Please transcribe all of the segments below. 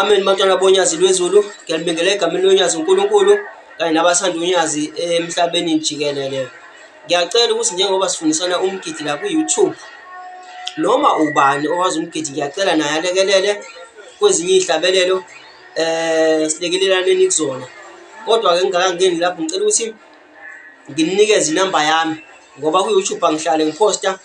Amen bantwana bonyazi lwezulu ngiyanibingelela egameni lonyazi uNkulunkulu kanye nabasanda unyazi emhlabeni jikelele ngiyacela ukuthi njengoba sifundisana umgidi la ku-youtube noma ubani owazi umgidi ngiyacela naye alekelele kwezinye iy'hlabelelo um eh, silekelelane kuzona kodwa-ke ngingakangeni lapho ngicela ukuthi nginikeze inamba yami ngoba ku-youtube angihlale ngiphosta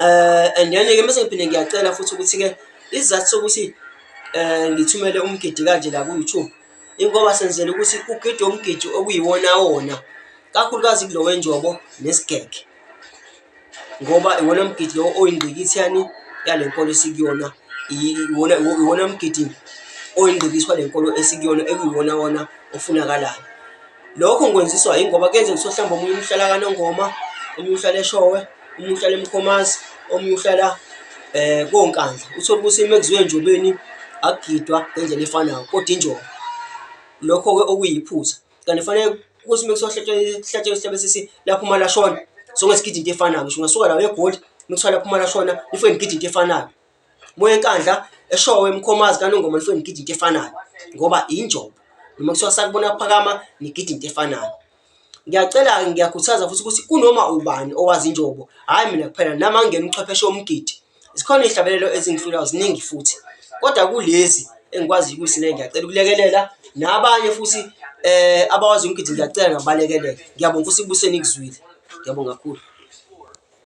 um and then-ke mese ngiphinde ngiyacela futhi ukuthi-ke isizathu sokuthi um ngithumele umgidi kanje la ku-youtube ingoba senzela ukuthi ugide umgidi okuyiwonawona kakhulukazi kulo wenjobo nesigege ngoba iwona mgidi lowo oyingqikithi yani yale nkolo esikuyona iwona mgidi oyingqikithi wale nkolo esikuyona ekuyiwonawona ofunakalayo Lokhu ngikwenziswa yingoba kuyenzeka ukuthi mhlawumbe omunye umhlala kanongoma, omunye uhlala eshowe, omunye uhlala emkhomazi, omunye uhlala eh konkandla. Uthole ukuthi uma kuziwe enjobeni akugidwa ngendlela efanayo kodwa injobo. Lokho-ke okuyiphutha. Kanti kufanele ukuthi uma kuhlatshwa isihlabelo sesi lapho uma lashona, sonke sigide into efanayo. Ngisho ungasuka la eGoli, uma kuthiwa lapho uma lashona, nifanele nigide into efanayo. Moya enkandla eshowe emkhomazi kanongoma nifike nigide into efanayo ngoba injobo noma kuthiwa sakubona phakama nigide into efanayo ngiyacela-ke ngiyakhuthaza futhi ukuthi kunoma ubani owazi injobo hhayi mina kuphela nami angingena uchwepheshe womgidi zikhona iy'hlabelelo ezingihlulayo ziningi futhi kodwa kulezi engikwaziyo ukuthi ne ngiyacela ukulekelela nabanye futhi eh abawazi umgidi ngiyacela ngabalekelele ngiyabonga ukuthi kubuseni kuzwile ngiyabonga kakhulu